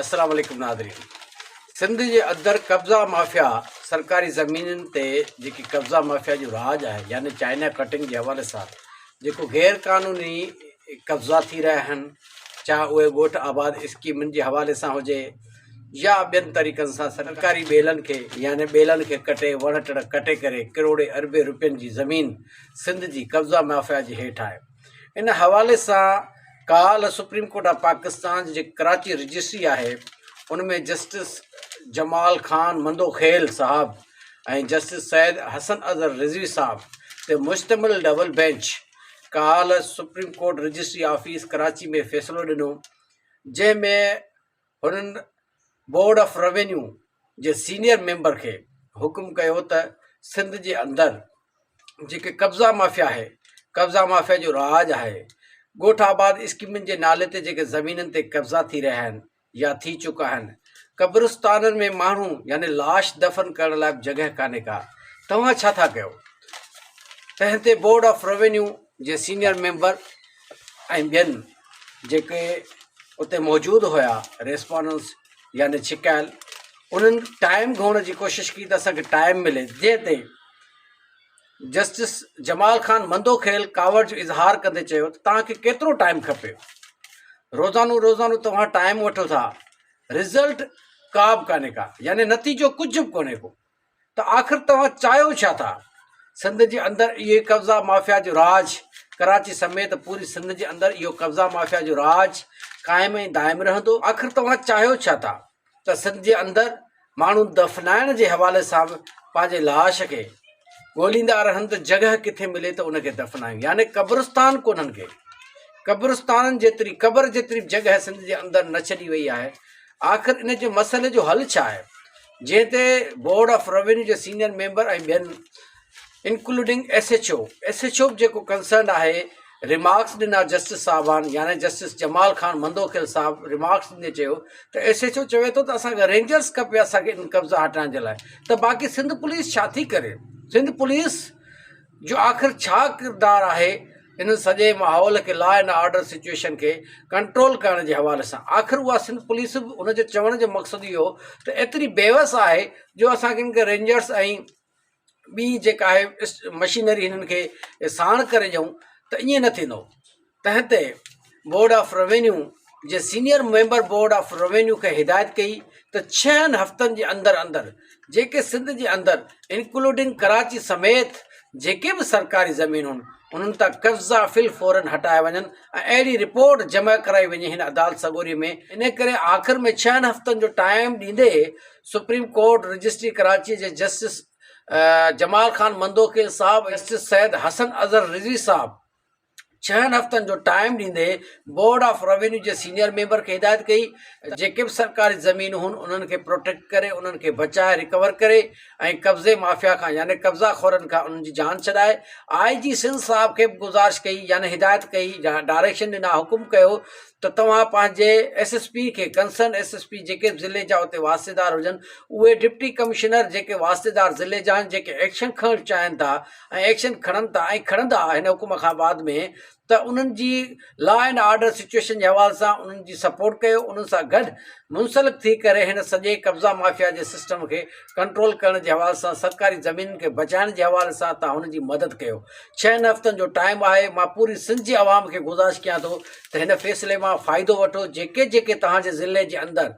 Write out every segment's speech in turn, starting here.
السلام عليڪم ناظرين سنڌ جي اندر قبضا مافيا سرڪاري زمينن تي جيڪي قبضا مافيا جو راڄ آهي يعني چائنا ڪٽنگ جي حوالي سان جيڪو غير قانوني قبضا ٿي رهيا آهن چاهي اهي ڳوٺ آباد اسڪيمن جي حوالي سان هجي يا ٻين طريقن سان سرڪاري ٻيلن کي يعني ٻيلن کي ڪٽي وڻ ٽڻ ڪٽي ڪري ڪروڙين اربين روپين جي زمين سنڌ جي قبضا مافيا جي هيٺ آهي ان حوالي سان ڪالهه سپريم ڪورٽ آف پاڪستان جي جيڪي ڪراچي رجسٽري آهي ان ۾ جسٽس جمال خان مندوخيل صاحب ۽ جسٽس سيد حسن اظهر رضوي صاحب تي مشتمل ڊبل بينچ ڪالهه supreme court registry office Karachi ۾ فيصلو ڏنو جنهن ۾ هنن بورڊ آف روينيو جي سينيئر ميمبر کي حڪم ڪيو ته سنڌ جي اندر جيڪي قبضا مافيا آهي قبضا مافيا جو راڄ آهي ڳوٺ آباد اسڪيمن جي نالي تي جيڪي زمينن تي قبضا ٿي رهيا آهن يا ٿي چڪا آهن قبرستانن ۾ ماڻهو يعني لاش دفن ڪرڻ لاء به جڳهه ڪانهي ڪا توهان ڇا ٿا ڪيو تنهن تي بورڊ آف روينيو جي سينيئر ميمبر ۽ ٻين جيڪي اتي موجود هيا ريسپونس يعني ڇڪايل انهن ٽائيم گهمڻ جي ڪوشش ڪئي ته اسان کي ٽائيم ملي جنهن تي جسٽس جمال خان مندو کيل ڪاوڙ جو اظهار ڪندي چيو ته توهان کي ڪيترو ٽائيم کپي روزانو روزانو توهان ٽائيم وٺو ٿا رزلٽ ڪا به ڪانه ڪا يعني نتيجو ڪجهه به ڪونهي ڪو ته آخر توهان چاهيو ڇا ٿا؟ سنڌ جي اندر اهي قبضا مافيا جو راڄ، ڪراچي سميت پوري سنڌ جي اندر اهو قبضا مافيا جو راڄ قائم ۽ دائم رهندو. آخر توهان چاهيو ڇا ٿا ته سنڌ جي اندر ماڻهو دفنائڻ جي حوالي سان به پنهنجي لاش کي ڳوليندا رهن ته جڳهه ڪٿي ملي ته ان کي دفنايون يعني قبرستان ڪونهن ڪي قبرستانن جيتري قبر جيتري به جڳهه سنڌ جي اندر نه ڇڏي وئي آهي آخر ان جي مسئلي جو حل ڇا آهي؟ جنهن تي بورڊ آف روينيو جي سينيئر ميمبر ۽ ٻين including S H O S H O به جيڪو ڪنسرنڊ آهي ريمارڪس ڏنا جسٽس صاحبان يعني جسٽس جمال خان مندوخيل صاحب ريمارڪس ڏيندي چيو ته ايس ايڇ او چوي ٿو ته اسانکي رينجرس کپي اسانکي قبضا هٽائڻ جي لاء ته باقي سنڌ پوليس ڇا ٿي ڪري سنڌ پوليس جو آخر ڇا ڪردار آهي ان سڄي ماحول کي لا اينڊ آرڊر سچوئيشن کي ڪنٽرول ڪرڻ جي حوالي سان آخر اها سنڌ پوليس به ان جو چوڻ جو مقصد اهو ته ايتري بيوس آهي جو اسان کي ان کي رينجرس ۽ ٻي جيڪا آهي مشينري هنن کي ساڻ ڪري ڏيون ته ائين نه ٿيندو تحت بورڊ آف روينيو جي senior member board of revenue کي هدايت ڪئي ته ڇهن هفتن جي اندر اندر جيڪي سنڌ جي اندر انڪلوڊنگ ڪراچي سميت جيڪي به سرڪاري زمينون انهن تان قبضا في الفورن هٽايا وڃن ۽ اهڙي رپورٽ جمع ڪرائي وڃي هن عدالت سڳوري ۾ ان ڪري آخر ۾ ڇهن هفتن جو ٽائيم ڏيندي سپريم ڪورٽ رجسٽري ڪراچي جي جسٽس جمال خان مندوخيل صاحب جسٽس سيد حسن اظهر رضوي صاحب ڇهن هفتن جو ٽائيم ڏيندي بورڊ آف روينيو جي سينيئر ميمبر کي هدايت ڪئي ته جيڪي به سرڪاري زمينون هن انهن کي پروٽيڪٽ ڪري انهن کي بچائي رڪور ڪري ۽ قبضي مافيا کان يعني قبضا خورن کان انهن جي جان ڇڏائي آء جي سنڌ صاحب کي به گذارش ڪئي يعني هدايت ڪئي ڊائريڪشن ڏنا حڪم ڪيو ته توهان پنهنجي ايس ايس پي کي ڪنسرن ايس ايس پي جيڪي به ضلعي جا اتي واسطيدار هجن اهي ڊپٽي ڪمشنر جيڪي واسطيدار ضلعي جا آهن جيڪي ايڪشن کڻڻ چاهين ٿا ۽ ايڪشن کڻن ٿا ۽ کڻندا هن حڪم کان بعد ۾ ته انهن جي لا اينڊ آرڊر سچوئيشن جي حوالي سان انهن جي سپورٽ ڪيو انهن سان گڏ منسلڪ ٿي ڪري هن سڄي قبضا مافيا جي سسٽم کي ڪنٽرول ڪرڻ جي حوالي سان سرڪاري زمينن کي بچائڻ جي حوالي سان تان هن جي مدد ڪيو ڇهن هفتن جو ٽائيم آهي مان پوري سنڌ جي عوام کي گذارش ڪيان ٿو ته هن فيصلي مان فائدو وٺو جيڪي جيڪي تهان جي ضلعي جي اندر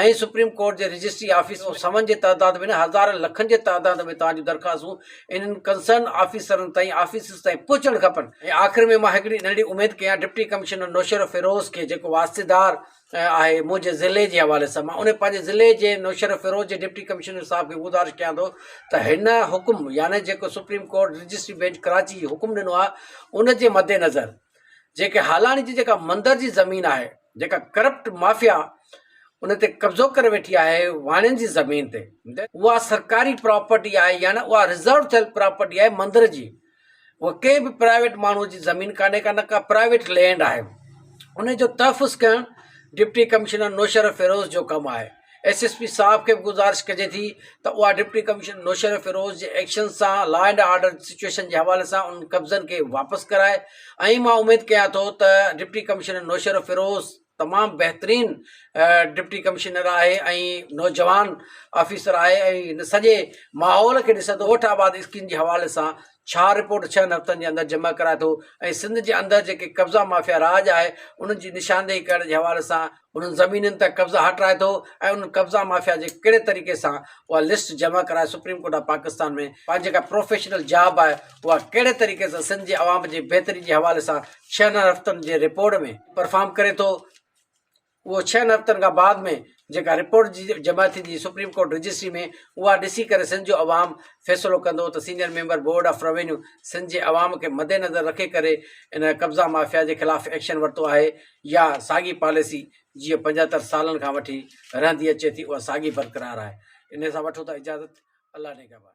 ائين سپريم ڪورٽ جي رجسٽري آفيس ۾ سون جي تعداد ۾ نه هزارن لکن جي تعداد ۾ توهان جون درخواستون انهن ڪنسرن آفيسرن تائين آفيسز تائين پهچڻ کپن ۽ آخر ۾ مان هڪڙي ننڍڙي اميد ڪيان ڊپٽي ڪمشنر نوشهرو فيروز کي جيڪو واسطيدار آهي منهنجي ضلعي جي حوالي سان مان ان پنهنجي ضلعي جي نوشهرو فيروز جي ڊپٽي ڪمشنر صاحب کي گذارش ڪيان ٿو ته هن حڪم يعني جيڪو supreme court registry bench Karachi جي حڪم ڏنو آهي ان جي مدنظر جيڪي هالاڻي جي جيڪا مندر جي زمين آهي جيڪا ڪرپٽ مافيا ان تي قبضو ڪري ويٺي آهي واڻين جي زمين تي اها سرڪاري پراپرٽي آهي يا نه اها رزرو ٿيل پراپرٽي آهي مندر جي اها ڪنهن به پرائيويٽ ماڻهو جي زمين ڪانهي ڪا نه ڪا پرائيويٽ لينڊ آهي ان جو تحفظ ڪرڻ ڊپٽي ڪمشنر نوشهره فيروز جو ڪم آهي ايس ايس پي صاحب کي به گذارش ڪجي ٿي ته اها ڊپٽي ڪمشنر نوشهره فيروز جي ايڪشن سان لا اينڊ آرڊر جي سچوئيشن جي حوالي سان انهن قبضن کي واپس ڪرائي ۽ مان اميد ڪيان ٿو ته ڊپٽي ڪمشنر نوشهره فيروز تمام بهترين ڊپٽي ڪمشنر آهي ۽ نوجوان آفيسر آهي ۽ هن سڄي ماحول کي ڏسندو ڳوٺ آباد اسڪيم جي حوالي سان ڇا رپورٽ ڇهن هفتن جي اندر جمع ڪرائي ٿو ۽ سنڌ جي اندر جيڪي قبضا مافيا راڄ آهي انهن جي نشاندهي ڪرڻ جي حوالي سان انهن زمينن تان قبضا هٽرائي ٿو ۽ انهن قبضا مافيا جي ڪهڙي طريقي سان اها لسٽ جمع ڪرائي سپريم ڪورٽ آف پاڪستان ۾ پنهنجي جيڪا پروفيشنل جاب آهي اها ڪهڙي طريقي سان سنڌ جي عوام جي بهتري جي حوالي سان ڇهن هفتن جي رپورٽ ۾ پرفارم ڪري ٿو اهو ڇهن هفتن کان بعد ۾ جيڪا رپورٽ جمع ٿيندي سپريم ڪورٽ رجسٽري ۾ اها ڏسي ڪري سنڌ جو عوام فيصلو ڪندو ته senior member board of revenue Sindh جي عوام کي مدنظر رکي ڪري ان قبضا مافيا جي خلاف ايڪشن ورتو آهي يا ساڳي پاليسي جيئن پنجهتر سالن کان وٺي رهندي اچي ٿي اها ساڳي برقرار آهي انهي سان وٺو ٿا اجازت الله نگهبان.